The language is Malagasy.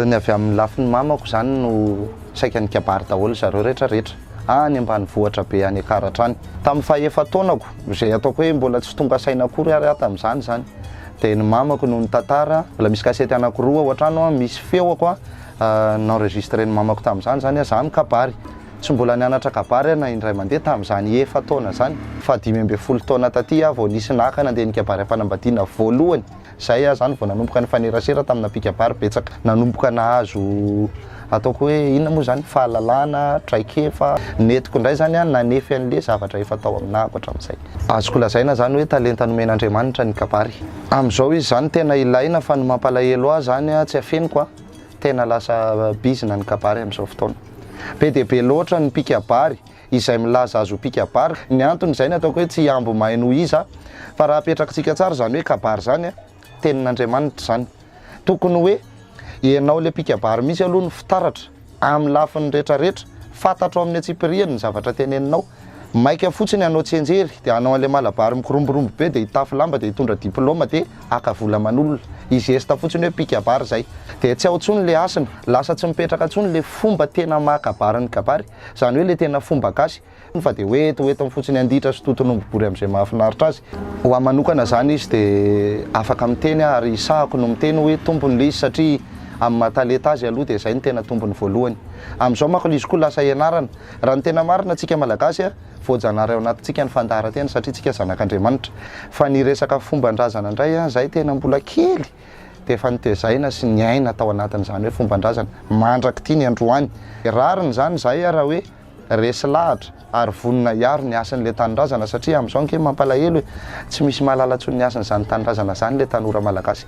Ny avy amin'ny lafiny mamako izany no saika nikabary daholo zareo rehetra rehetra any ambanivohitra be any Akaratra any. Tamin'ny fahaefa-taonako, izay ataoko hoe mbola tsy tonga saina akory ary aho tamin'izany izany, dia ny mamako no nitantara, mbola misy kasety anakiroa ao an-trano misy feoko an-enregistren'ny mamako tamin'izany izany an, izaho nikabary. Tsy mbola nianatra kabary aho na indray mandeha tamin'izany efa-taona izany, fa dimy ambin'ny folo taona taty aho vao nisy naka nandeha nikabary am-panambadiana voalohany. Izay aho izany vao nanomboka nifanerasera tamina mpikabary betsaka, nanomboka nahazo ataoko hoe inona moa izany, fahalalana, traikefa. Nentiko indray izany aho nanefy an'ilay zavatra efa tao aminahako hatramin'izay. Azoko lazaina izany hoe talenta nomen'Andriamanitra ny kabary. Amin'izao izy izany tena ilaina, fa ny mampalahelo ahy izany tsy afeniko an! Tena lasa bizina ny kabary amin'izao fotoana. Be dia be loatra ny mpikabary izay milaza azy ho mpikabary. Ny antony izay no ataoko hoe tsy hihambo may noho iza fa raha apetrakintsika tsara izany hoe kabary izany, tenin'Andriamanitra izany. Tokony hoe ianao ilay mpikabary mihitsy aloha no fitaratra amin'ny lafiny rehetrarehetra. Fantatro amin'ny antsipirihany ny zavatra teneninao. Maika fotsiny hanao tsianjery dia hanao an'ilay malabary mikoromborombo be dia hitafy lamba dia hitondra diplaoma dia. haka vola aman'olona, hizesta fotsiny hoe mpikabary izay, dia tsy ao intsony ilay hasina, lasa tsy mipetraka intsony ilay fomba tena maha kabary ny kabary, izany hoe ilay tena fomba gasy, fa dia hoe eto ho etony fotsiny handitra sy toton'omby bory amin'izay mahafinaritra azy. Ho ahy manokana izany izy dia afaka miteny aho ary hisahako no miteny hoe tompony ilay izy satria amin'ny maha talenta azy aloha dia izay no tena tompony voalohany. Amin'izao manko ilay izy koa lasa ianarana. Raha ny tena marina, tsika Malagasy, voajanahary ao anatintsika ny fandaharan-tena satria tsika zanak'Andriamanitra. Fa ny resaka fomban-drazana indray an, izahay tena mbola kely dia efa notezaina sy niaina tao anatin'izany hoe fomban-drazana mandrak'ity ny androany. Rariny izany izahay raha hoe resy lahatra ary vonona hiaro ny hasin'ilay tanindrazana satria amin'izao ange mampalahelo e! tsy misy mahalala intsony ny hasin'izany tanindrazana izany ilay tanora malagasy.